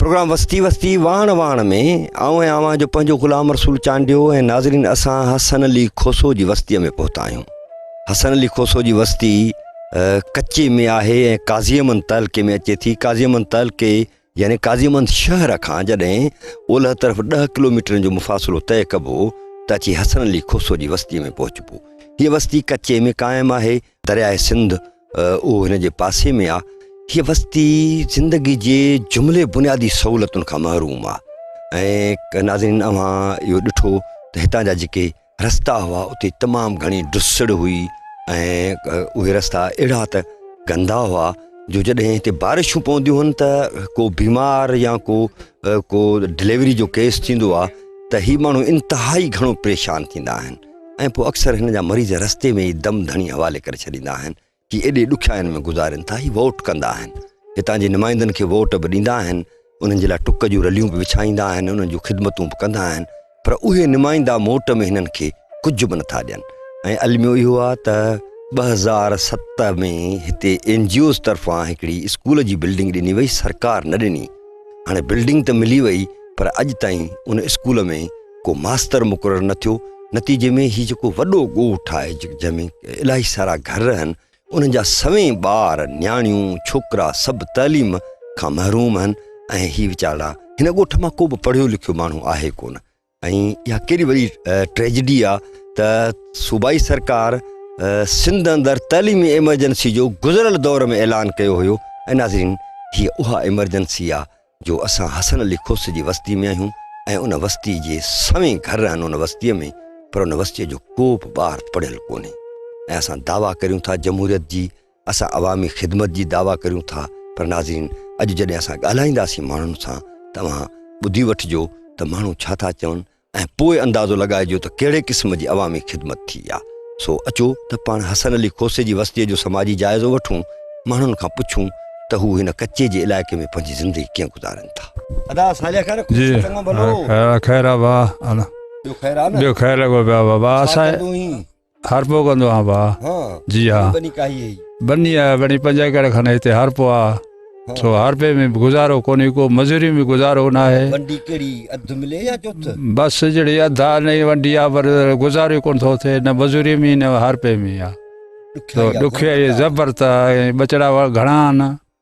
Programme وستي وستي واڻ واڻ ۾ آئون ۽ اوهان جو پنهنجو غلام رسول چانڊيو ۽ ناظرين اسان حسن علي کوسو جي وستي ۾ پهتا آهيون حسن علي کوسو جي وستي ڪچي ۾ آهي ۽ قاضي امن تعلقي ۾ اچي ٿي قاضي امن تعلقي يعني قاضيمند شهر کان جڏهن اولهه طرف ڏهه ڪلوميٽرن جو مفاصلو طئي ڪبو ته اچي حسن علي کوسو جي وستيء ۾ پهچبو. هيء وستي ڪچي ۾ قائم آهي. درياهه سنڌ اهو هن جي پاسي ۾ آ. هيء وستي زندگي جي جملي بنيادي سهولتن کان محروم آ ۽ ناظرين اوهان اهو ڏٺو ته هتان جا جيڪي رستا هئا اتي تمام گهڻي ڊسڙ هئي ۽ اهي رستا اهڙا ته گندا هئا جو جڏهن هتي بارشون پونديون هن ته ڪو بيمار يا ڪو ڪو ڊليوري جو ڪيس ٿيندو آ ته هي ماڻهو انتهائي گهڻو پريشان ٿيندا آهن ۽ پوء اڪثر هن جا مريض رستي ۾ ئي دم ڌڻي حوالي ڪري ڇڏيندا آهن جي ايڏي ڏکيائين ۾ گذارين ٿا هي ووٽ ڪندا آهن هتان جي نمائندن کي ووٽ به ڏيندا آهن انهن جي لاء ٽڪ جون رليون به وڇائيندا آهن انهن جون خدمتون به ڪندا آهن پر اهي نمائندا موٽ ۾ هنن کي ڪجهه به نٿا ڏين ۽ الميو اهو آهي ته ٻه هزار ست ۾ هتي اين جي اوز طرفان هڪڙي اسڪول جي بلڊنگ ڏني وئي سرڪار نه ڏني هاڻي بلڊنگ ته ملي وئي پر اڄ تائين ان اسڪول ۾ ڪو ماستر مقرر نه ٿيو نتيجي ۾ هي جيڪو وڏو ڳوٺ آهي جنهن ۾ الاهي سارا گهر آهن انهن جا سوين ٻار نياڻيون ڇوڪرا سڀ تعليم کان محروم آهن ۽ هي ويچارا هن ڳوٺ مان ڪو به پڙهيو لکيو ماڻهو آهي ڪونه ۽ اها ڪهڙي وڏي ٽريجڊي آهي ته صوبائي سرڪار سنڌ اندر تعليمي ايمرجنسي جو گذريل دور ۾ اعلان ڪيو هيو ۽ ناظرين هي اها ايمرجنسي آهي جو اسان حسن علي کوسي جي وستي ۾ آهيون ۽ ان وستي جي سوين گهر آهن ان وستي ۾ پر ان وستي جو ڪو به ٻار پڙهيل ڪونهي ۽ اسان دعويٰ ڪريون ٿا جمهوريت جي اسان عوامي خدمت جي دعويٰ ڪريون ٿا پر ناظرين اڄ جڏهن اسان ڳالهائينداسين ماڻهن سان ته اوهان ٻڌي وٺجو ته ماڻهو ڇا ٿا چون ۽ پوء اندازو لڳائجو ته ڪهڙي قسم جي عوامي خدمت ٿي آ. سو اچو ته پاڻ حسن علي کوسي جي وستيء جو سماجي جائزو وٺون، ماڻهن کان پڇون ته هو هن ڪچي جي علائقي ۾ پنهنجي زندگي ڪيئن گذارين ٿا. ادا صالح خير آ جي خير آ خير آ با ٻيو خير آ نه ٻيو خير لڳو پيو آ با با اسان هر پو ڪندو آهان ڀا ها جي ها بني ڪاهي هي بني آ بني پنج ايڪڙ کن هتي هر پو آ سو هر پي ۾ گزارو ڪوني کو مزوري ۾ گزارو نه آهي ونڊي ڪهڙي اڌ ملي يا چوٿ بس جڙي اڌا نه ونڊي آ پر گزارو ڪون ٿو ٿي نه مزوري ۾ نه هر پي ۾ آ تو ڏکيا زبر تا بچڙا گھڻا آهن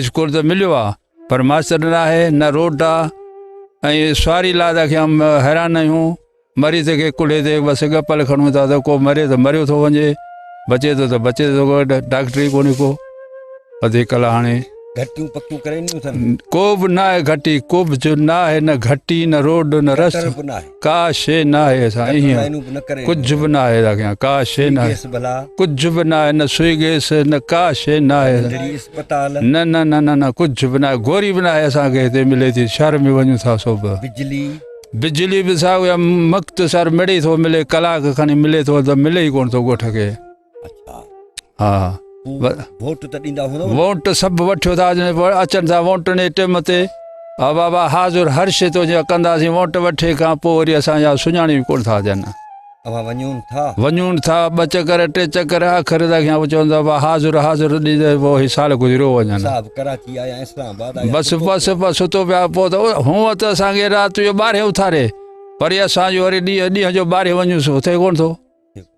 اسڪول ته مليو آ پر ماستر نه آهي نه روٽ آ ۽ سواري لا ته کيام حيران آهيون مريض کي ڪلهي تي بس گپل کڻون ٿا ته ڪو مري ته مريو ٿو وڃي بچي ٿو ته بچي ٿو ڊاڪٽري ڪوني ڪو اڌي ڪلا هاڻي گھٽيون پڪيون ڪري نيون ٿن ڪو به نه آهي گھٽي ڪو به جو نه آهي نه گھٽي نه روڊ نه رستو ڪا شي ناهي اسان ايئن ڪجھ به ناهي راکيان ڪا شي ناهي ڪجھ به ناهي نه سوئي گيس نه ڪا شي ناهي نه نه نه نه نه ڪجھ به ناهي گوري به ناهي اسان کي هتي ملي ٿي شهر ۾ وڃون ٿا سو به بجلي بجلي به سا مختصر مڙي ٿو ملي ڪلاڪ کن ملي ٿو ته ملي ئي ڪون ٿو ڳوٺ کي ها ووٽ ته ڏيندا هوندو ووٽ سڀ وٺيو ٿا اچن ٿا ووٽن جي ٽيم تي ها بابا حاضر هر شي تو جي ڪنداسين ووٽ وٺي کان پوء وري اسان جا سڃاڻي ڪون ٿا ڏين اوهان ونيون ٿا ونيون ٿا ٻ چڪر ٽي چڪر اخر تک يا چون ٿا حاضر حاضر ڏي ته پوء هي سال گذريو وڃن صاحب ڪراچي آيا اسلام آباد آيا بس بس بس تو پيا پوء ته هو ته اسان کي رات جو ٻارهي اٿاري پر اسان جو وري ڏينهن ڏينهن جو ٻارهي وڃوس اٿي ڪون ٿو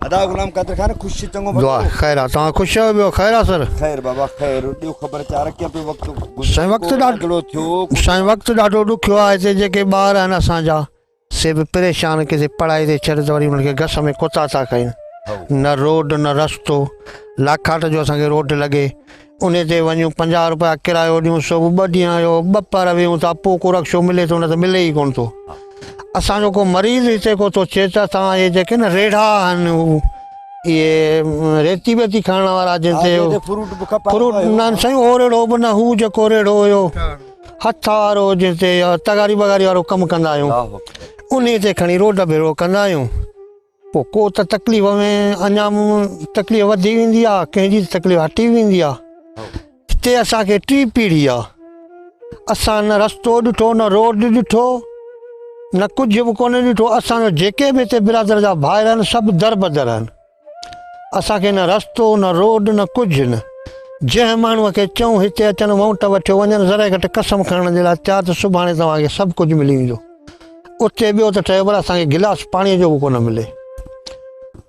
ادا غلام قادر خان خوش چي چڱو وقت دعا خير آ توهان خوش آهيو ٻيو خير آ سر خير بابا خير ڏيو خبر چار ڪيئن پيو وقت سائين وقت گذريو، ڏاڍو- ڪهڙو ٿيو ڪهڙو سائين وقت ڏاڍو ڏکيو آ هتي جيڪي ٻار آهن اسان جا سي به پريشان ڪٿي پڙهائي تي ڇڏ ته وري انهن کي گس ۾ ڪوتا ٿا کائين نه روڊ نه رستو لاکاٽ جو اسان کي روڊ لڳي انهي تي وڃون پنجاهه روپيا ڪرايو ڏيون سو به ٻه ڏينهن اهو ٻه پهر ويهون ٿا پوء ڪو رڪشو ملي ٿو نه ته ملي ئي ڪونه ٿو اسان جو ڪو مريض هتي ڪو ٿو چئي ته اسان اهي جيڪي نه ريڙها آهن اهي ريتي ويتي کائڻ وارا جن تي فروٽ نه سائين اهو ريڙهو به نه هو جيڪو ريڙهو هيو هٿ وارو جنهن تي تغاري بغاري وارو ڪم ڪندا آهيون انهي تي کڻي روڊ ڀيڙو ڪندا آهيون پوء ڪو ته تڪليف ۾ اڃا تڪليف وڌي ويندي آ ڪنهن جي تڪليف هٽي ويندي آ هتي اسان کي ٽي پيڙهي آ اسان نه رستو ڏٺو نه روڊ ڏٺو نه ڪجهه به ڪونه ڏٺو اسان جو جيڪي به هتي برادر جا ڀائر آهن سڀ در بدر آهن اسان کي نه رستو نه روڊ نه ڪجهه نه جنهن ماڻهو کي چئون هتي اچن وونٽ وٺيو وڃن ذرا گهٽ قسم کڻڻ جي لاء تيار ته سڀاڻي توهان کي سڀ ڪجهه ملي ويندو اتي ٻيو ته ٺهيو پر اسان کي گلاس پاڻيء جو به ڪونه ملي.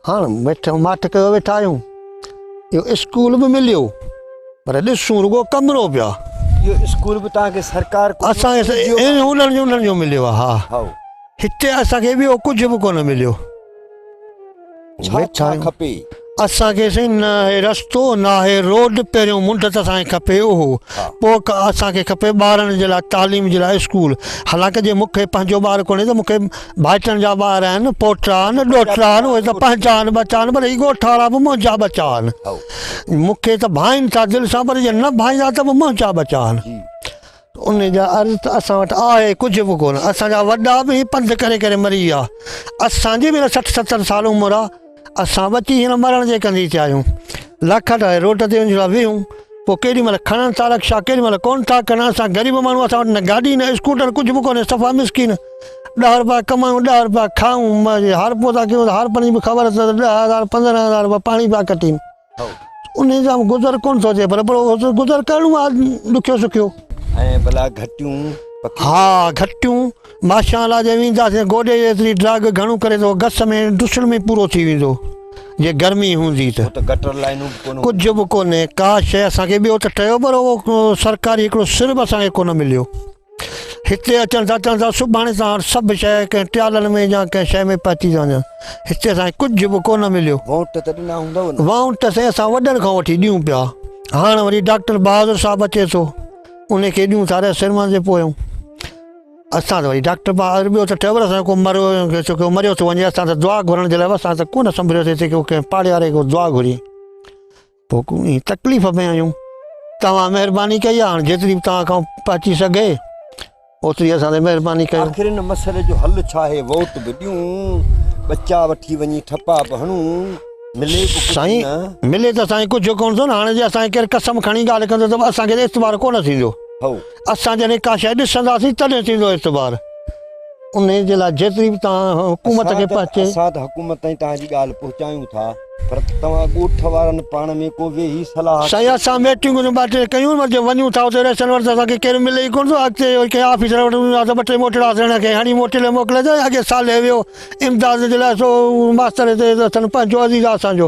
هاڻ ويٺو ماٺ ڪيو ويٺا آهيون. اهو اسڪول به مليو پر ڏسون رڳو ڪمرو پيا. اهو اسڪول به توهان کي سرڪار ڪجهه اسان کي انهن جو مليو آهي. هاء. هتي اسان کي ٻيو ڪجهه به ڪونه مليو. ڇا ڇا کپي اسان کي سائين نه آهي رستو نه آهي روڊ پهريون منڊ ته اسان کي کپي اهو پوء اسان کي کپي ٻارن جي لاء تعليم جي لاء اسڪول حالانڪه جي مون کي پنهنجو ٻار ڪونهي ته مون کي ڀائٽن جا ٻار آهن پوٽا آهن ڏوهٽا آهن اهي ته پنهنجا آهن ٻچا آهن پر هي ڳوٺ وارا به منهنجا ٻچا آهن مون کي ته ڀائين ٿا دل سان پر جي نه ڀائيندا ته به منهنجا ٻچا آهن انهن جا عرض ته اسان وٽ آهي ڪجهه به ڪونه. اسان جا وڏا به هي پنڌ ڪري ڪري مري ويا. اسان جي به هينئر سٺ ستر سال عمر آ. اسان ٻچي هينئر مرڻ جي ڪندي ٿيا آهيون. لاکا ٺاهي روڊ تي وڃي ويهون. پوء ڪيڏي مهل کڻن ٿا رڪشا ڪيڏي مهل ڪونه ٿا کڻن. اسان غريب ماڻهو اسان وٽ نه گاڏي نه اسڪوٽر ڪجهه به ڪونهي صفا مسڪين. ڏهه روپيا ڪمائون ڏهه روپيا کائون. هارپو ٿا ڪيون ته هارپن جي به خبر اٿس ته ڏهه هزار پندرهن هزار روپيا پاڻي پيا کٽين. انهيء جا گذر ڪونه ٿو اچي پر گذر ڪرڻو آهي ڏکيو سکيو. ۽ ڀلا گهٽيون پکيون. ها گهٽيون ماشان لا جي وينداسين گوڏي جيتري ڊراگ گهڻو ڪري ته گس ۾ ڊسڻ ۾ پورو ٿي ويندو جي گرمي هوندي ته. اتي گٽر لائينون به ڪونه هونديون. ڪجهه به ڪونهي ڪا شيء اسان کي ٻيو ته ٽيو پر اهو سرڪاري هڪڙو سر به اسان کي ڪونه مليو. هتي اچڻ سان چون ٿا سڀاڻي سان هر سڀ شيء ڪنهن ٽيالن ۾ يا ڪنهن شيء ۾ پهچي ٿا وڃن. هتي اسان کي ڪجهه به ڪو نه مليو. وونٽ ته ڏنا هوندؤ نه؟ وونٽ ته سائين اسان وڏن کان وٺي ڏيون پيا. هاڻ وري ڊاڪٽر بهادر صاحب اچي ٿو. ان کي ڏيون ٿا رهه سرمن جي پويون. اسان ته وري ڊاڪٽر بهادر ٻيو ته ٺهيو پر اسان جو ڪو مريو ويو ڇو ڪو مريو ٿو وڃي اسان ته دعا گهرڻ جي لاء اسان ته ڪو نه سنڀريوسي هتي ڪو ڪنهن پاڙيواري کان دعا گهري. حڪومي تڪليف ۾ آهيون توهان مهرباني ڪئي هاڻ جيتري به توهان کان پهچي سگهي اوتري اسان تي مهرباني ڪيو آخر ان مسئلي جو حل ڇا آهي ووٽ به ڏيون ٻچا وٺي وڃي ٺپا به هڻون ملي به ڪجهه سائين نه ملي ته سائين ڪجهه ڪونه ٿو نه هاڻي جي اسان کي ڪير قسم کڻي ڳالهه ڪندو ته اسان کي اعتبار ڪونه ٿيندو هو اسان جڏهن ڪا شيء ڏسنداسين تڏهن ٿيندو اعتبار انهيء جي لاء جيتري به توهان حڪومت کي پهچي. اسان ته حڪومت تائين توهان جي ڳالهه پهچايون ٿا، پر توهان ڳوٺ وارن پاڻ ۾ ڪو ويهي صلاح. سائين اسان ميٽنگون ته ٻه ٽي ڪيون، پر جي ونيون ٿا اتي رئيسن وٽ ته اسان کي ڪير ملي ئي ڪونه ٿو. اڳتي اهو ئي ڪنهن آفيسر وٽ وڃون ٿا ته ٻه ٽي موٽڙا سيڻ کي هڻي موٽيلي موڪلي ته اڳي صالح ويو امداد جي لاء سو ماستر هتي اٿن پنهنجو عزيز آسان جو.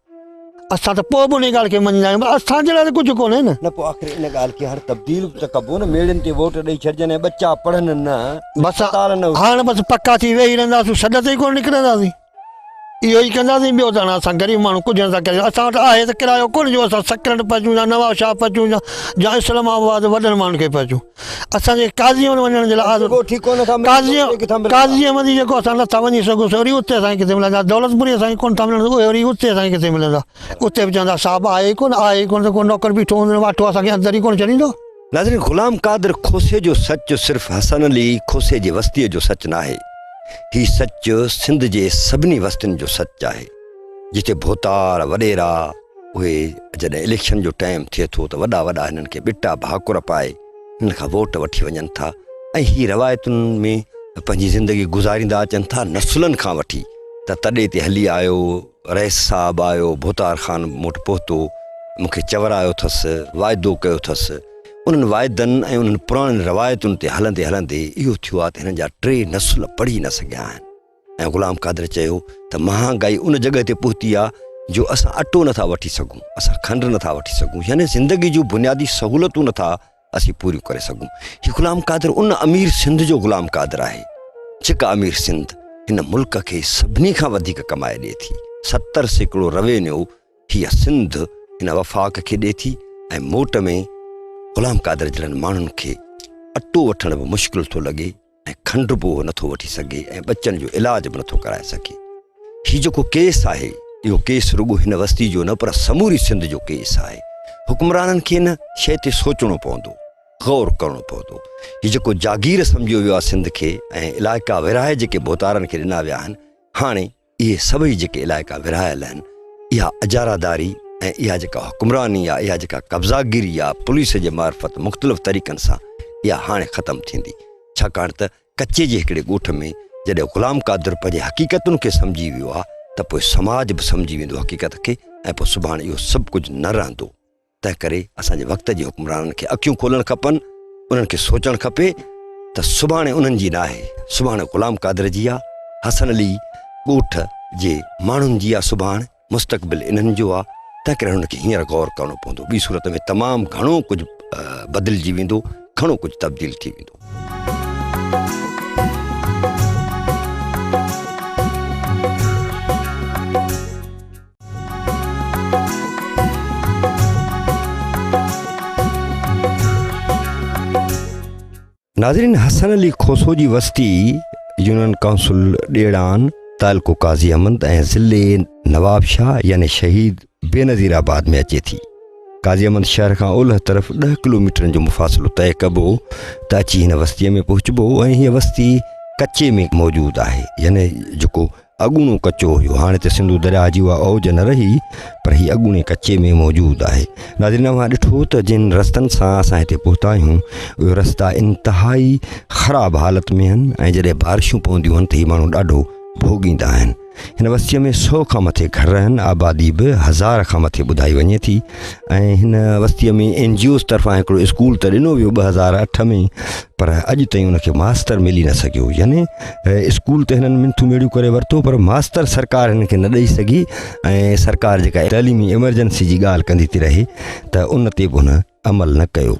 اسان ته پوء به انهيء ڳالهه کي مڃيندا آهيون، پر اسان جي لاء ته ڪجهه ڪونهي نه. نه پوء آخر ان ڳالهه کي هر تبديل به ته ڪبو نه، ميڙين تي ووٽ ڏئي ڇڏجن ۽ ٻچا پڙهن نه، بس اسپتال نه هجن. هاڻ بس پڪا ٿي ويهي رهنداسون، سڏ تي ئي ڪونه نڪرنداسين. اهو ئي ڪنداسين، ٻيو ته هاڻ اسان غريب ماڻهو ڪجهه نٿا ڪري سگهون. اسان وٽ آهي ته ڪرايو ڪونه جو اسان سڪرنڊ پهچون يا نوابشاهه پهچون يا اسلام آباد وڏن ماڻهن کي پهچون. اسان کي قاضيء وٽ وڃڻ جي لاء آزو ڏيو. قاضيء احمدي جيڪو اسان نه ٿا وڃي سگهون سي وري اتي اسان کي ڪٿي ملندا. دولتپوري اسان کي ڪونه ٿا ملڻ اهي وري اتي اسان کي ڪٿي ملندا. اتي به چوندا صاحب آهي ئي ڪونه، آهي ئي ڪونه ته ڪو نوڪر بيٺو هوندو ۽ واٺو اسان کي اندر ئي ڪونه ڇڏيندو. ناظرين غلام قادر کوسي جو سچ صرف حسن علي کوسي جي وستيء جو سچ ناهي. هي سچ سنڌ جي سڀني وستين جو سچ آهي. جتي ڀوتار وڏيرا اهي جڏهن اليڪشن جو ٽائيم ٿئي ٿو ته وڏا وڏا هنن کي ٻٽا ڀاڪر پائي هنن کان ووٽ وٺي وڃن ٿا ۽ هي روايتن ۾ پنهنجي زندگي گذاريندا اچن ٿا نسلن کان وٺي ته تڏي تي هلي آيو رئيس صاحب آيو ڀوتار خان مون وٽ پهتو مون کي چورايو ٿس واعدو ڪيو ٿس انهن واعدن ۽ انهن پراڻين روايتن تي هلندي هلندي اهو ٿيو آهي ته هنن جا ٽي نسل پڙهي نه سگهيا آهن ۽ غلام قادر چيو ته مهانگائي ان جڳهه تي پهتي آهي جو اسان اٽو نٿا وٺي سگهون، اسان کنڊ نٿا وٺي سگهون يعني زندگي جون بنيادي سهولتون نٿا اسين پوريون ڪري سگهون. هي غلام قادر ان امير سنڌ جو غلام قادر آهي جيڪا امير سنڌ هن ملڪ کي سڀني کان وڌيڪ ڪمائي ڏئي ٿي. ستر سيڪڙو روينيو هيء سنڌ هن وفاق کي ڏئي ٿي ۽ موٽ ۾ غلام قادر جهڙن ماڻهن کي اٽو وٺڻ به مشڪل ٿو لڳي. ۽ کنڊ به اهو نٿو وٺي سگهي ۽ ٻچن جو علاج به نٿو ڪرائي سگهي. هي جيڪو ڪيس آهي، اهو ڪيس رڳو هن وستي جو نه پر سموري سنڌ جو ڪيس آهي. حڪمرانن کي ان شيء تي سوچڻو پوندو، غور ڪرڻو پوندو. هي جيڪو جاگير سمجهيو ويو آهي سنڌ کي ۽ علائقا ورهائي جيڪي ڀوتارن کي ڏنا ويا آهن، هاڻي. اهي سڀئي جيڪي علائقا ورهايل آهن، اها اجاره داري ۽ اها جيڪا حڪمراني يا اها جيڪا قبضا گيري يا پوليس جي معرفت مختلف طريقن سان اها هاڻي ختم ٿيندي ڇاڪاڻ ته ڪچي جي هڪڙي ڳوٺ ۾ جڏهن غلام قادر پنهنجي حقيقتن کي سمجهي ويو ها ته پوء سماج به سمجهي ويندو حقيقت کي ۽ پوء سڀاڻ اهو سڀ ڪجهه نه رهندو. تنهنڪري اسان جي وقت جي حڪمرانن کي اکيون کولڻ کپن، انهن کي سوچڻ کپي ته سڀاڻي انهن جي ناهي، سڀاڻي غلام قادر جي آ، حسن علي ڳوٺ جي ماڻهن جي آ، سڀاڻ مستقبل انهن جو آ، تنهنڪري انهن کي هينئر غور ڪرڻو پوندو، ٻي صورت ۾ تمام گهڻو ڪجهه بدلجي ويندو، گهڻو ڪجهه تبديل ٿي ويندو. ناظرين حسن علي کوسو جي وستي يونين ڪائونسل ڏيڙان تعلقو قاضي احمد ۽ ضلع نواب شاهه يعني شهيد بي نظير آباد ۾ اچي ٿي قاضي احمد شهر کان اولهه طرف ڏهه ڪلوميٽرن جو مفاصلو طئي ڪبو ته اچي هن وستيء ۾ پهچبو ۽ هيء وستي ڪچي ۾ موجود آهي يعني جيڪو اڳوڻو ڪچو هيو هاڻي ته سنڌو درياهه جي اها اوج نه رهي پر هي اڳوڻي ڪچي ۾ موجود آهي ناظرين اوهان ڏٺو ته جن رستن سان اسان هتي پهتا آهيون اهي رستا انتهائي خراب حالت ۾ آهن ۽ جڏهن بارشون پونديون آهن ته هي ماڻهو ڏاڍو ڀوڳيندا آهن هن وستيء ۾ سو کان مٿي گهر آهن آبادي به هزار کان مٿي ٻڌائي وڃي ٿي ۽ هن وستيء ۾ اين جي اوز طرفان هڪڙو اسڪول ته ڏنو ويو ٻه هزار اٺ ۾ پر اڄ تائين ان کي ماستر ملي نه سگهيو يعني اسڪول ته هنن منٿون ميڙيون ڪري ورتو پر ماستر سرڪار هن کي نه ڏئي سگهي ۽ سرڪار جيڪا تعليمي ايمرجنسي جي ڳالهه ڪندي ٿي رهي ته ان تي به هن عمل نه ڪيو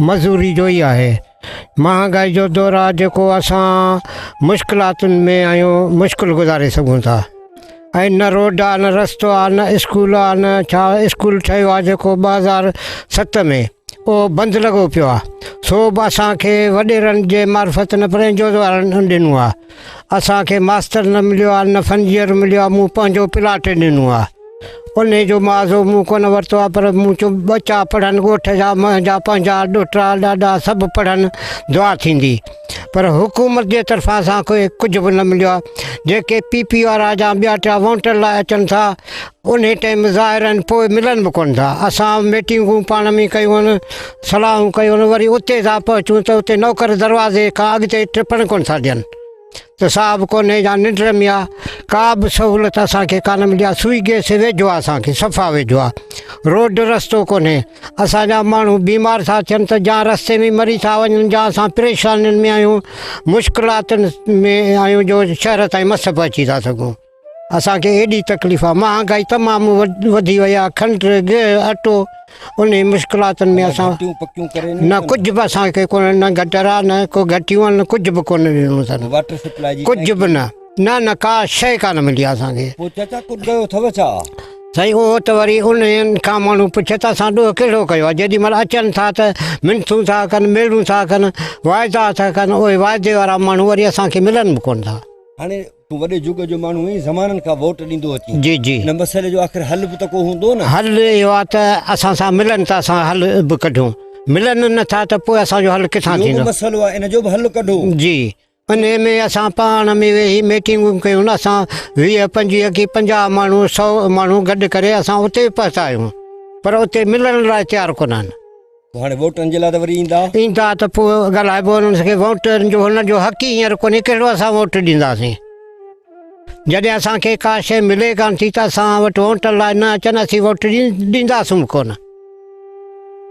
مزوري جو ئي آهي. مهانگائي جو دور آهي جيڪو اسان مشڪلاتن ۾ آهيون مشڪل گذاري سگهون ٿا ۽ نه روڊ آهي نه رستو آهي نه اسڪول آهي نه ڇا اسڪول ٺهيو آهي جيڪو ٻه هزار ست ۾ اهو بند لڳو پيو آهي سو به اسان کي وڏيرن جي معرفت نه پر انجوز وارن ڏنو آهي اسان کي ماستر نه مليو آ نه فنجيئر مليو آ مون پنهنجو پلاٽ ڏنو آ انهي جو معاضو مون ڪونه ورتو آ پر مون چيو ٻچا پڙهن ڳوٺ جا منهنجا پنهنجا ڏوهٽا ڏاڏا سڀ پڙهن دعا ٿيندي پر حڪومت جي طرفان اسان کي ڪجهه به نه مليو آ جيڪي پي پي وارا جا ٻيا ٽيا وونٽر لاء اچن ٿا انهي ٽيم ظاهر آهن پوء ملن به ڪونه ٿا اسان ميٽنگون پاڻ ۾ ڪيون آهن صلاحون ڪيون آهن وري اتي ٿا پهچون ته اتي نوڪر دروازي کان اڳتي ٽپڻ ڪونه ٿا ڏين ته صاحب ڪونهي يا ننڊ رمي آهي ڪا به سهولت اسانکي ڪانه ملي آهي سوئي گيس ويجهو آهي اسانکي صفا ويجهو آهي روڊ رستو ڪونهي اسانجا ماڻهو بيمار ٿا ٿين ته جا رستي ۾ مري ٿا وڃن جا اسان پريشانين ۾ آهيون مشڪلاتن ۾ آهيون جو شهر تائين مس به اچي ٿا سگهون اسان کي ايڏي تڪليف آ مهانگائي تمام وڌي وئي آ کنڊ گيهه اٽو انهي مشڪلاتن ۾ اسان نه ڪجهه به اسان کي ڪونه نه گٽر آ نه ڪو گهٽيون آن نه ڪجهه به ڪونه ڏنو اٿن ڪجهه به نه نه نه ڪا شيء ڪانه ملي آ اسان کي پوء چاچا ڪجهه ڪيو اٿو ڇا سائين اهو ته وري انهن کان ماڻهو پڇي ته اسان ڏوهه ڪهڙو ڪيو آ جيڏي مهل اچن ٿا ته منٿون ٿا ڪن ميڙون ٿا ڪن واعدا ٿا ڪن اهي واعدي وارا ماڻهو وري اسان کي ملن به ڪونه ٿا هاڻي تون وڏي جڳ جو ماڻهو آهين، زمانن کان ووٽ ڏيندو اچين. جي جي. ان مسئلي جو آخر حل به ته ڪو هوندو نه. حل اهو آهي ته اسان سان ملن ته اسان حل به ڪڍون. ملن نه ٿا ته پوء اسان جو حل ڪٿان ٿيندو. اهو به مسئلو آهي ان جو به حل ڪڍو. جي. انهي ۾ اسان پاڻ ۾ ويهي ميٽنگون ڪيون اسان ويهه پنجويهه ڪي پنجاهه ماڻهو سئو ماڻهو گڏ ڪري اسان اتي به پهتا آهيون پر اتي ملڻ لاء تيار ڪونه آهن. هاڻي ووٽرن جي لاء ته وري ايندا. ايندا ته پوء ڳالهائبو انهن سان ڪي ووٽرن جو هنن جو حق ئي هينئر ڪونهي ڪهڙو اسان ووٽ ڏينداسين جڏهن اسان کي ڪا شيء ملي ڪانه ٿي ته اسان وٽ ووٽن لاء نه اچن اسين ووٽ ڏينداسون ڪونه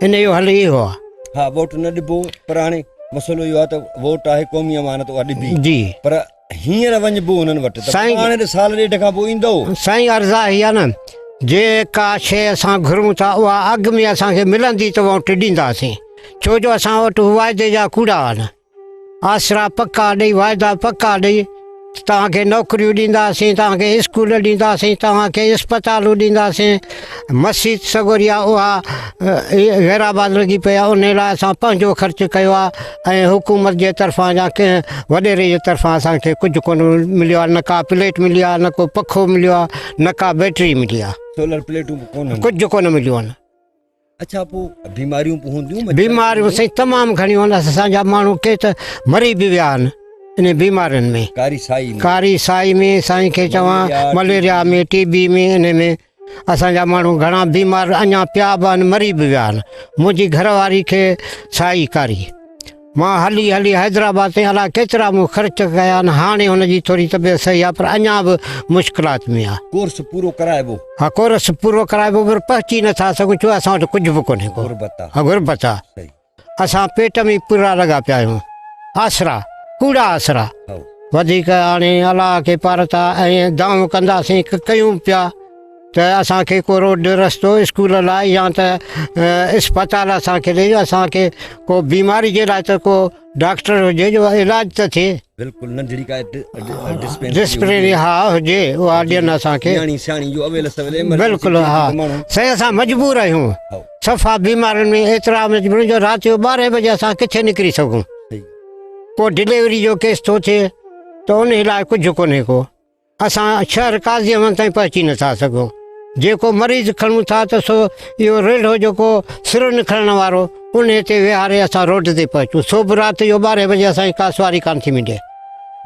ان جو حل اهو آ. ها ووٽ نه ڏبو پر هاڻي مسئلو اهو آ ته ووٽ آهي قومي امانت اها ڏبي جي پر هينئر وڃبو هنن وٽ ته سائين- هاڻي ته سال ڏيڍ کان پوء ايندؤ. سائين عرض آ هي آ نه جي ڪا شيء اسان گهرون ٿا اها اگهه ۾ اسان کي ملندي ته ووٽ ڏينداسين ڇو جو اسان وٽ واعدي جا ڪوڙا آ نه آسرا پڪا ڏئي واعدا پڪا ڏئي توهان کي نوڪريون ڏينداسين توهان کي اسڪول ڏينداسين توهان کي اسپتالون ڏينداسين مسيت سڳوريا اها غيرآباد لڳي پئي آ انهي لاء اسان پنهنجو خرچ ڪيو آ ۽ حڪومت جي طرفان يا ڪنهن وڏيري جي طرفان اسان کي ڪجهه ڪونه مليو آهي نه ڪا پليٽ ملي آهي نه ڪو پکو مليو آهي نه ڪا بيٽري ملي آهي سولر پليٽون به ڪونهن ڪجهه ڪونه مليو آهن اچھا پو بيماريون پو هونديون مچھر بيماريون سائين تمام گھڻيون آهن اسان جا ماڻهو ڪي ته مري به ويا آهن ان بيمارين ۾ ڪاري سائي ۾ ڪاري سائي ۾ سائين کي چوان مليريا ۾ ٽي بي ۾ ان ۾ اسان جا ماڻهو گهڻا بيمار اڃا پيا به آهن مري به ويا آهن منهنجي گهر واري کي سائي ڪاري مان هلي هلي حيدرآباد تائين الاء ڪيترا مون خرچ ڪيا آهن هاڻي هن جي ٿوري طبيعت صحيح آهي پر اڃا به مشڪلات ۾ آهي. ڪورس پورو ڪرائبو. ها ڪورس پورو ڪرائبو پر پهچي نٿا سگهون ڇو اسان وٽ ڪجهه به ڪونهي ڪو غربت آ. غربت آ. صحيح. اسان پيٽ ۾ پرا لڳا پيا آهيون. آسرا، ڪوڙا آسرا، وڌيڪ آڻي الله کي پارتا ۽ دانهون ڪنداسين ڪه ڪيون پيا ته اسان کي ڪو روڊ رستو اسڪول لاء يا ته اسپتال اسان کي ڏي اسان کي ڪو بيماري جي لاء ته ڪو ڊاڪٽر هجي جو علاج ته ٿئي. بلڪل ننڍڙي ڪا ڊسپينسري ها هجي اها ڏين اسان کي. نياڻي سياڻي جو اول سول ايمرجنسي ٿي وڃي ته ماڻهو. بلڪل ها سائين اسان مجبور آهيون. صفا بيمارين ۾ ايترا ۾ جي جو رات جو ٻارهين بجي اسان ڪٿي نڪري سگهون ڪو ڊليوري جو ڪيس ٿو ٿئي ته ان لاء ڪجهه ڪونهي ڪو اسان شهر قاضي احمد تائين پهچي نٿا سگهون جيڪو مريض کڻون ٿا ته سو اهو ريلهو جيڪو سرن کڻڻ وارو ان تي ويهاري اسان روڊ تي پهچون سو به رات جو ٻارهين بجي اسانجي ڪا سواري ڪانه ٿي ملي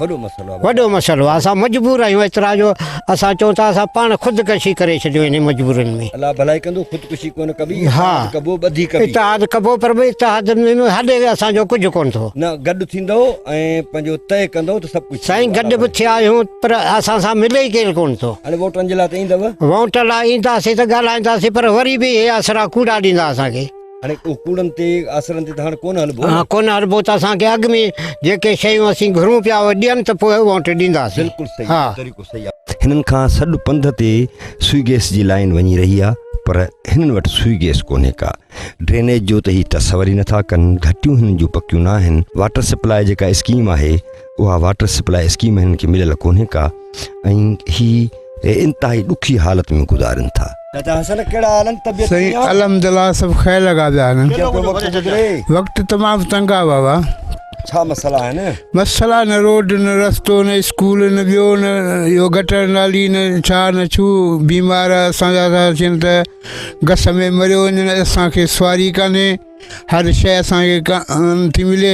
وڏو مسئلو آهي. وڏو مسئلو آهي اسان مجبور آهيون ايترا جو اسان چئون ٿا اسان پاڻ خودڪشي ڪري ڇڏيون انهن مجبورين ۾. الله ڀلائي ڪندو خودڪشي ڪونه ڪبي اتحاد ڪبو ٻڌي ڪبي. اتحاد ڪبو پر ڀئي اتحاد ۾ هڏي اسان جو ڪجهه ڪونه ٿو. نه گڏ ٿيندو ۽ پنهنجو طئي ڪندو ته سڀ ڪجهه. سائين گڏ به ٿيا آهيون پر اسان سان ملي ئي ڪير ڪونه ٿو. هاڻي ووٽن جي لاء ته ايندؤ. ووٽن لاء اينداسين ته ڳالهائينداسين پر وري به اهي آسرا ڪوڙا ڏيندا اسان کي. هاڻي اهو ڪوڙن تي آسرن تي ته هاڻ ڪونه هلبو نه. ڪونه هلبو ته اسان کي اڳ ۾ جيڪي شيون اسين گهرون پيا اهي ڏين ته پوء ووٽ ڏينداسين. بلڪل صحيح اهو طريقو صحيح آهي. هنن کان سڏ پنڌ تي سوئي گيس جي لائين وڃي رهي آهي پر هنن وٽ سوئي گيس ڪونهي ڪا. ڊرينيج جو ته هي تصور ئي نٿا ڪن، گهٽيون هنن جون پڪيون ناهن، واٽر سپلاء جيڪا اسڪيم آهي، اها واٽر سپلاء اسڪيم هنن کي مليل ڪونهي ڪا ۽ هي انتهائي ڏکي حالت ۾ گذارن ٿا سائين الحمدلله سڀ خير لڳا پيا آهن وقت تمام تنگ آ بابا ڇا مسئلا آهن مسئلا نه روڊ نه رستو نه اسڪول نه ٻيو نه اهو گٽر نالي نه ڇا نه ڇو بيمار اسان جا ٿا اچن ته گس ۾ مريو وڃن اسانکي سواري ڪانهي هر شي اسانکي ڪا ٿي ملي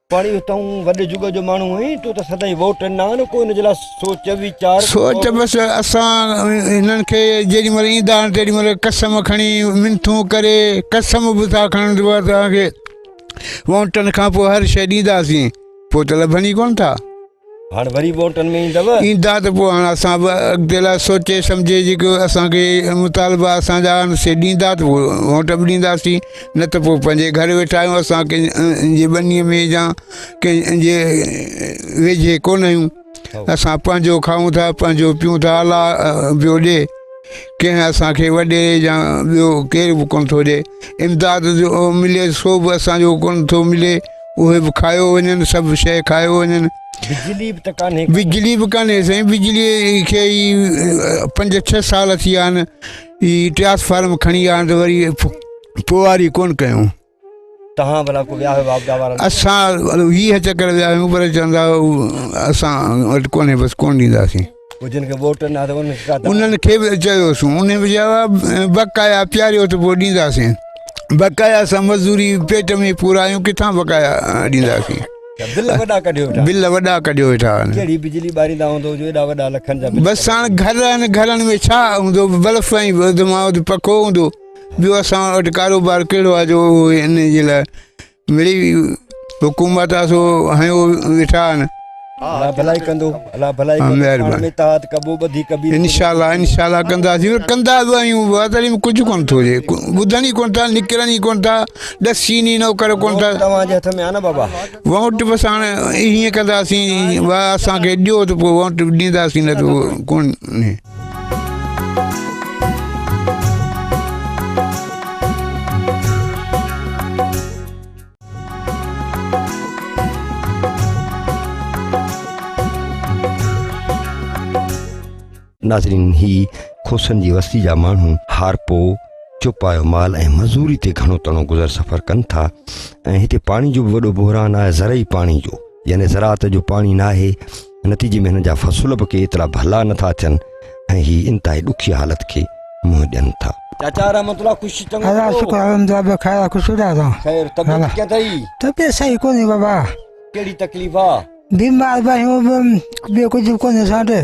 پاڻي تون وڏي جڳ جو ماڻهو آهين تو ته سدائين ووٽ نه آڻ ڪو ان جي لاء سوچ ويچار سوچ بس اسان هنن کي جيڏي مهل ايندا آهن تيڏي مهل قسم کڻي منٿون ڪري قسم به ٿا کڻن جو اسان کي ووٽن کان پوء هر شيء ڏينداسين پوء ته لڀن ئي ڪونه ٿا هاڻ وري ووٽن ۾ ايندؤ. ايندا ته پوء هاڻ اسان به اڳتي لاء سوچي سمجهي جيڪي اسان کي مطالبا اسان جا آهن سي ڏيندا ته پوء ووٽ به ڏينداسين نه ته پوء پنهنجي گهر ويٺا آهيون اسان ڪنهن جي ٻني ۾ يا ڪنهن جي ويجهي ڪونه آهيون اسان پنهنجو کائون ٿا پنهنجو پيون ٿا الله پيو ڏي ڪنهن اسان کي وڏي يا ٻيو ڪير به ڪونه ٿو ڏي امداد جو ملي سو به اسان جو ڪونه ٿو ملي اهي به کايو وڃن سڀ شيء کايو وڃن بجلي به ته ڪانهي بجلي به ڪانهي سائين بجلي کي ئي پنج ڇهه سال ٿي ويا آهن هي ٽرانسفارم کڻي آيا ته وري پواري ڪون ڪيون تهان بلا کو ويا هو آبدا وارا اسان هي چڪر ويا هيون پر چوندا اسان وٽ ڪونهي بس ڪون ڏينداسين جن کي ووٽ نه آهي انهن کي ڪا دعوت انهن کي به چيوس انهن به جواب بقايا پياريو ته پوء ڏينداسين بقايا سان مزوري پيٽ ۾ پورائيون ڪٿان بقايا ڏينداسين بل وڏا ڪڍيو ويٺا بل وڏا ڪڍيو ويٺا ڪهڙي بجلي ٻاريندا هوندو جو ايڏا وڏا لکن جا بس هاڻ گهر آهن گهرن ۾ ڇا هوندو بلف ۽ ودماوت پکو هوندو ٻيو اسان وٽ ڪاروبار ڪهڙو آهي جو انهن جي لاء مڙئي حڪومت آ سو هنيو ويٺا آهن الله ڀلائي ڪندو الله ڀلائي ڪندو مهربان اتحاد ڪبو ٻڌي ڪبي ان شاء الله ان شاء الله ڪندا سي ڪندا به آيون وادري ۾ ڪجهه ڪون ٿو جي ٻڌن ئي ڪون ٿا نڪرن ئي ڪون ٿا ڏس شي ني نو ڪر ڪون ٿا توهان جي هٿ ۾ آ نه بابا ووٽ بس هاڻ هيئن ڪندا سي وا اسان کي ڏيو ته پوء ووٽ ڏيندا سي نه ته ڪون ناظرين هي کوسن جي وستي جا ماڻهو هارپو چوپايو مال ۽ مزوري تي گهڻو تڻو گذر سفر ڪن ٿا ۽ هتي پاڻي جو به وڏو بحران آهي زرعي پاڻي جو يعني زراعت جو پاڻي ناهي نتيجي ۾ هنن جا فصل به ڪي ايترا ڀلا نٿا اچن ۽ هي انتهائي ڏکي حالت کي منهن ڏين ٿا چاچا رحمت الله خوش چڱو الله شڪر الحمدلله بخير خوش رهي ٿا خير طبيعت ڪيئن اٿئي طبيعت صحيح ڪونهي بابا ڪهڙي تڪليف آ بيمار به آهيون ٻيو ڪجهه ڪونهي اسان وٽ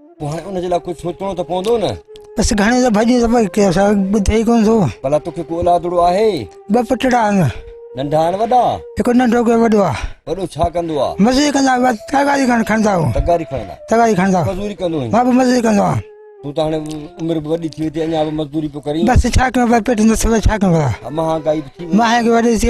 پوء هاڻي ان جي لاء ڪجهه سوچڻو ته پوندو نه. بس گهڻي دفعا جي دفعا ڪي اسا ٻڌي ئي ڪون ٿو ڀلا توکي ڪو اولادڙو آهي ٻه پٽڙا آهن ننڍا آهن وڏا هڪ ننڍو ڪي وڏو آ وڏو ڇا ڪندو آ مزوري ڪندا آ تغاري کان کڻدا آ تغاري کڻدا تغاري کڻدا مزوري ڪندو آهين مان به مزوري ڪندو آ تو ته هاڻي عمر به وڏي ٿي وئي ٿي اڃا به مزدوري پيو ڪرين بس ڇا ڪيو ڀاء پيٽ نه سڀ ڇا ڪيو ڀاء مهانگائي به ٿي وئي مهانگائي وڏي ٿي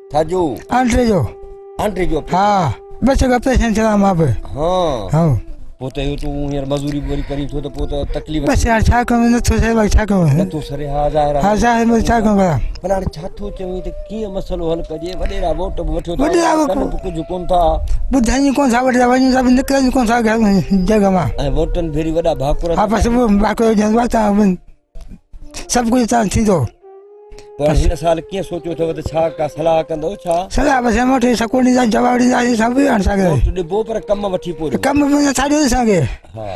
ٿجو انٽري جو انٽري جو ها بس گپ سين چلا ما به ها ها پو ته يو تو هير مزوري بوري ڪري ٿو ته پو ته تڪليف بس يار ڇا ڪم نه ٿو سي ڇا ڪم نه ٿو سري ها ظاهر ها ظاهر مي ڇا ڪم ڪرا پر هاڻي ڇا ٿو چوي ته ڪيئن مسئلو حل ڪجي وڏي را ووٽ به وٺيو ٿا ڪن به ڪجهه ڪون ٿا ٻڌائي ڪون ٿا وڏا وڃي سڀ نڪرن ڪون ٿا جڳ ما ۽ ووٽن ڀيري وڏا ڀاڪر ها بس ڀاڪر جنوا تا سڀ ڪجهه تان ٿيندو پر هن سال ڪيئن سوچيو اٿو ته ڇا ڪا صلاح ڪندو ڇا صلاح بس هيم وٺي سڪو ڏيندا جواب ڏيندا سي سڀ هي اسان کي ووٽ ڏبو پر ڪم وٺي پورو ڪم به نه ٿا ڏين اسان کي ها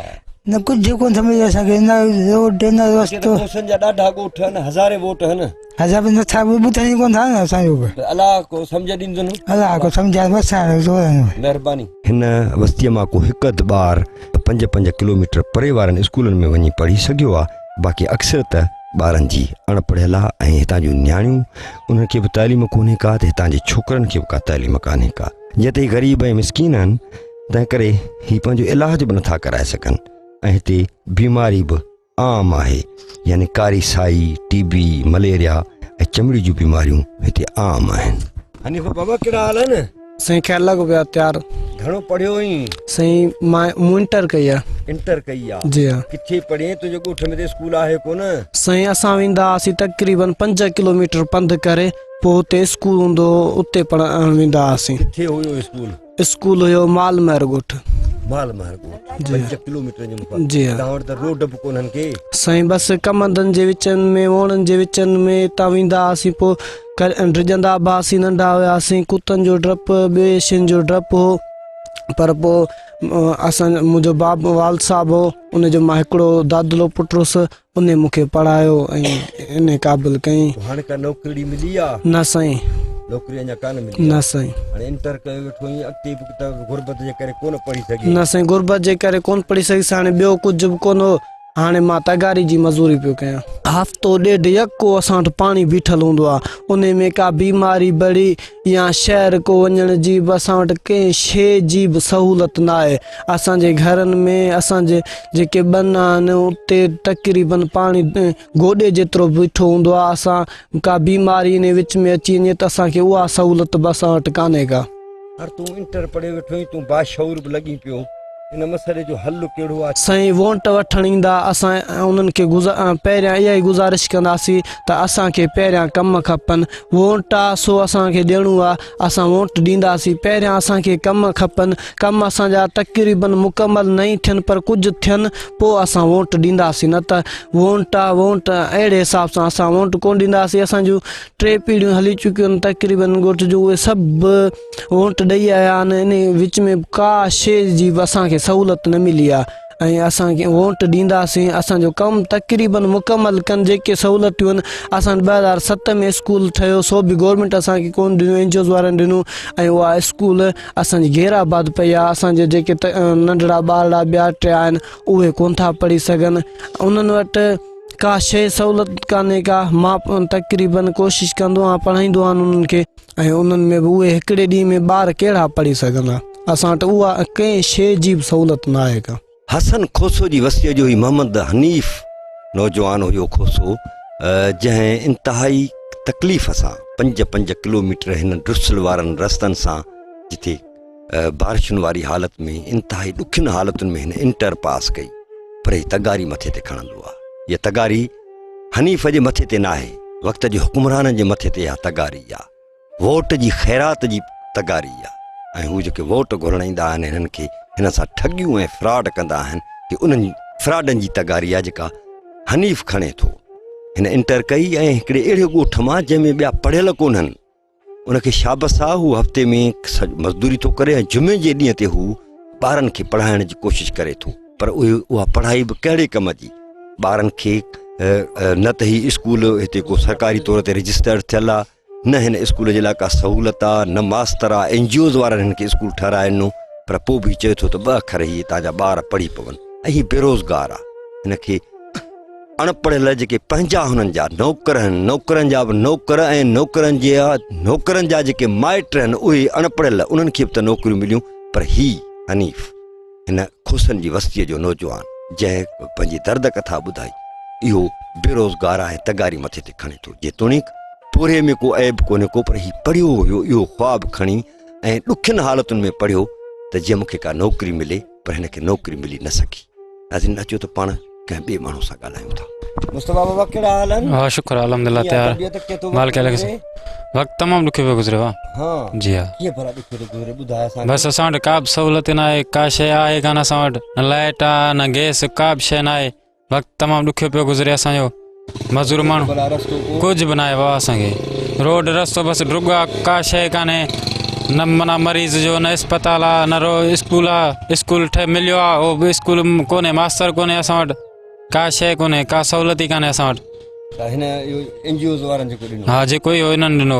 نه ڪجهه ڪون سمجهي اسان کي نه روڊ نه ڪي ته رستو ڪوسن جا ڏاڍا ڳوٺ آهن هزارين ووٽ آهن ادا بي نٿا بو بو تني ڪون ٿا اسان جو به الله کو سمجھ ڏين دنو ادا کو سمجھا بس آهي جو آهي مهرباني هن وستيء مان ڪو هڪ اڌ ٻار ته پنج پنج ڪلوميٽر پري وارن اسڪولن ۾ وڃي پڙهي سگهيو آ باقي اڪثر ته ٻارن جي اڻ پڙهيل آ ۽ هتان جون نياڻيون انهن کي به تعليم ڪونهي ڪا ته هتان جي ڇوڪرن کي به ڪا تعليم ڪانهي ڪا جئين ته هي غريب ۽ مسڪين آهن تنهن ڪري هي پنهنجو علاج به نٿا ڪرائي سگهن ۽ هتي بيماري به عام آهي يعني ڪاري سائي، ٽي بي، مليريا ۽ چمڙي جون بيماريون هتي عام آهن. حنيفه بابا ڪهڙا حال آهن؟ سائين خير لڳو پيو آ تيار. گهڻو پڙهيو هئين؟ سائين مان مون انٽر ڪئي آ. انٽر ڪئي آ؟ جي ها. ڪٿي پڙهين تنهنجي ڳوٺ ۾ ته اسڪول آهي ڪونه؟ سائين اسان ويندا هئاسين تقريبن پنج ڪلوميٽر پنڌ ڪري پوء هتي اسڪول هوندو هو اتي پڙهڻ ويندا هئاسين. ڪٿي هيو اسڪول؟ اسڪول هيو مال مهر ڳوٺ مال مهر ڳوٺ 5 ڪلوميٽر جي مقام جي تاور ته روڊ به ڪونن کي سائين بس ڪمندن جي وچن ۾ وونن جي وچن ۾ تا ويندا اسين پو ڪر ڊڄندا با اسين ننڍا هيا اسين ڪتن جو ڊپ به شين جو ڊپ هو پر پو اسان جو مون جو باب والد صاحب هو ان جو ماهڪڙو دادلو پٽروس انهي مون کي پڙهايو ۽ ايم اي قابل ڪيم. هاڻي ڪا نوڪرڙي ملي آ؟ نه سائين. نوڪري اڃا ڪانه ملي آ؟ نه سائين. هاڻي انٽر ڪيو ويٺو آهين اڳتي به ته غربت جي ڪري ڪونه پڙهي سگهين؟ نه سائين غربت جي ڪري ڪونه پڙهي سگهيس هاڻي ٻيو ڪجهه به ڪونه هو هاڻي مان تغاري جي مزوري پيو ڪيان. هفتو ڏيڍ يڪو اسان وٽ پاڻي بيٺل هوندو آ انهي ۾ ڪا بيماري بڙي يا شهر ڪو وڃڻ جي به اسان وٽ ڪنهن شيء جي به سهولت ناهي. اسان جي گهرن ۾ اسان جي جيڪي ٻن آهن اتي تقريبن پاڻي گوڏي جيترو بيٺو هوندو آهي اسان ڪا بيماري انهي وچ ۾ اچي وڃي ته اسان کي اها سهولت به اسان وٽ ڪانهي ڪا. هر تون انٽر پڙهيو ويٺو آهين تون باشعور به لڳين پيو ان مسئلي جو حل ڪهڙو آهي. سائين وونٽ وٺڻ ايندا اسان انهن کي پهريان اها ئي گذارش ڪنداسين ته اسان کي پهريان ڪم کپن وونٽ آ سو اسان کي ڏيڻو آ اسان ووٽ ڏينداسين پهريان اسان کي ڪم کپن ڪم اسان جا تقريبن مڪمل نئين ٿين پر ڪجهه ٿين پو اسان ووٽ ڏينداسين نه ته وونٽا وونٽ اهڙي حساب سان اسان ووٽ ڪون ڏينداسين اسان جون ٽي پيڙهيون هلي چڪيون تقريبن ڳوٺ جون اهي سڀ ووٽ ڏئي آيا آهن انهي وچ ۾ ڪا شي جي اسان کي سهولت نه ملي آهي ۽ اسان کي ووٽ ڏينداسين اسان جو ڪم تقريبن مڪمل ڪن جيڪي سهولتيون اسان وٽ ٻه هزار ست ۾ اسڪول ٺهيو سو به گورمينٽ اسان کي ڪون ڏنيون اين جي اوز وارن ڏنون ۽ اها اسڪول اسان جي غير آباد پئي آهي اسان جي جيڪي ننڍڙا ٻارڙا ٻيا ٽيا آهن اهي ڪون ٿا پڙهي سگهن انهن وٽ ڪا شيء سهولت ڪانهي ڪا مان تقريبن ڪوشش ڪندو آهيان پڙهائيندو آهيان انهن کي ۽ انهن ۾ به اهي هڪڙي ڏينهن ۾ ٻار ڪهڙا پڙهي سگهندا. اسان وٽ اها ڪنهن شيء جي به سهولت ناهي ڪا. حسن کوسو جي وسيء جو هي محمد حنيف نوجوان هيو کوسو جنهن انتهائي تڪليف سان پنج پنج ڪلوميٽر هن ڊسل وارن رستن سان جتي بارشن واري حالت ۾ انتهائي ڏکين حالتن ۾ هن انٽر پاس ڪئي پر هي تغاري مٿي تي کڻندو آ يا تغاري حنيف جي مٿي تي ناهي، وقت جي حڪمرانن جي مٿي تي اها تغاري آ، ووٽ جي خيرات جي تغاري آ ۽ هو جيڪي ووٽ گهرڻ ايندا آهن هنن کي هنن سان ٺڳيون ۽ فراڊ ڪندا آهن هي انهن فراڊن جي تغاري آ جيڪا حنيف کڻي ٿو. هن انٽر ڪئي ۽ هڪڙي اهڙي ڳوٺ مان جنهن ۾ ٻيا پڙهيل ڪونهن. ان کي شابس آ هو هفتي ۾ مزدوري ٿو ڪري ۽ جمعي جي ڏينهن تي هو ٻارن کي پڙهائڻ جي ڪوشش ڪري ٿو پر اها پڙهائي به ڪهڙي ڪم جي ٻارن کي نه ته هي اسڪول هتي ڪو سرڪاري طور تي رجسٽرڊ ٿيل آ نه هن اسڪول جي لاء ڪا سهولت آ نه ماستر آ اين جي اوز وارن هن کي اسڪول ٺهرائي ڏنو پر پوء به چئي ٿو ته ٻه اکر هي هتان جا ٻار پڙهي پون ۽ هي بيروزگار آ هن کي اڻ پڙهيل جيڪي پنهنجا هنن جا نوڪر هن نوڪرن جا به نوڪر ۽ نوڪرن جي نوڪرن جا جيڪي مائٽ هن اهي اڻ پڙهيل انهن کي به ته نوڪريون مليون پر هي حنيف هن کوسن جي وستيء جو نوجوان جنهن پنهنجي درد ڪٿا ٻڌائي اهو بي روزگار آهي تغاري مٿي تي کڻي ٿو جيتوڻيڪ پورهيي ۾ ڪو عيب ڪونهي ڪو پر هي پڙهيو هيو اهو خواب کڻي ۽ ڏکين حالتن ۾ پڙهيو ته جي مون کي ڪا نوڪري ملي پر هن کي نوڪري ملي نه سگهي ناظرين اچو ته پاڻ ڪنهن ٻئي ماڻهو سان ڳالهايون ٿا مصطفيٰ بابا ڪهڙا حال آهن ها شڪر آهي الحمدلله ڪيئن تيار طبيعت ڪيئن ٿو مالڪ الهي گذري؟ وقت تمام ڏکيو پيو گذريو آ ها جي ها ڪيئن ڀلا ڏکيو ٿو گذري ٻڌاء اسان کي. بس اسان وٽ ڪا به سهولت نه آهي ڪا شيء آهي ڪانه اسان وٽ نه لائٽ آ نه گيس ڪا به شيء نه آهي وقت تمام ڏکيو پيو گذري اسان جو مزور ماڻهو ڪجهه به ناهي بابا اسان کي روڊ رستو بس ڊگو آ ڪا شيء ڪانهي نه منا مريض جو نه اسپتال آ نه رو اسڪول آ اسڪول ٺهي مليو آ او به اسڪول ڪونهي ماستر ڪونهي اسان وٽ ڪا شيء ڪونهي ڪا سهولت ئي ڪانهي اسان وٽ هن ان جي اوز وارن جيڪو ڏنو ها جيڪو هي انهن ڏنو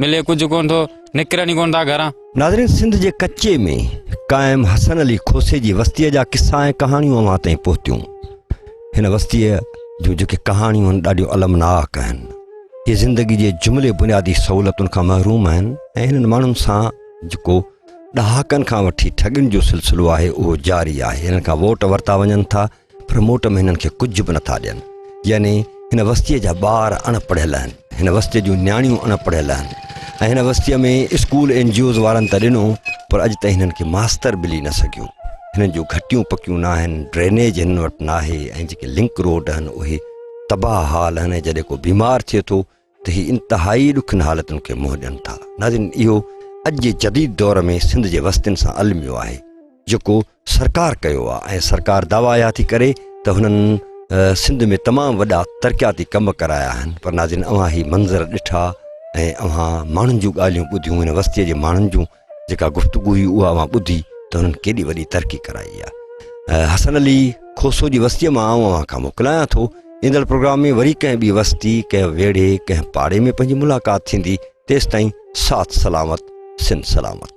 ملي ڪجهه ڪونه ٿو، نڪرن ئي ڪونه ٿا گهران. ناظرين سنڌ جي ڪچي ۾ قائم حسن علي کوسي جي وستيء جا قصا ۽ ڪهاڻيون اوهان تائين پهتيون. هن وستيء جون جيڪي ڪهاڻيون آهن ڏاڍيون المناڪ آهن. اهي زندگي جي جملي بنيادي سهولتن کان محروم آهن ۽ هنن ماڻهن سان جيڪو ڏهاڪن کان وٺي ٺڳين جو سلسلو آهي اهو جاري آهي. هنن کان ووٽ ورتا وڃن ٿا. پر موٽ ۾ هنن کي ڪجهه به نٿا ڏين يعني هن وستيء جا ٻار اڻ پڙهيل آهن هن وستيء جون نياڻيون اڻ پڙهيل آهن ۽ هن وستيء ۾ اسڪول اين جي اوز وارن ته ڏنو پر اڄ تائين هنن کي ماستر ملي نه سگهيو هنن جون گهٽيون پڪيون نه آهن ڊرينيج هنن وٽ ناهي ۽ جيڪي لنڪ روڊ آهن اهي تباهه حال آهن جڏهن ڪو بيمار ٿئي ٿو ته هي انتهائي ڏکن حالتن کي منهن ڏين ٿا ناظرين اهو اڄ جي جديد دور ۾ سنڌ جي وستين سان الميو آهي جيڪو سرڪار ڪيو آهي ۽ سرڪار دعويٰ اها ٿي ڪري ته هنن سنڌ ۾ تمام وڏا ترقياتي ڪم ڪرايا آهن پر ناظرين اوهان هي منظر ڏٺا ۽ اوهان ماڻهن جون ڳالهيون ٻڌيون هن وستيء جي ماڻهن جون جيڪا گفتگو هئي اها اوهان ٻڌي ته هنن ڪيڏي وڏي ترقي ڪرائي آهي حسن علي کوسو جي وستيء مان آئون اوهان کان موڪلايان ٿو ايندڙ پروگرام ۾ وري ڪنهن ٻي وستي ڪنهن ويڙهي ڪنهن پاڙي ۾ پنهنجي ملاقات ٿيندي تيستائين ساٿ سلامت سن سلامت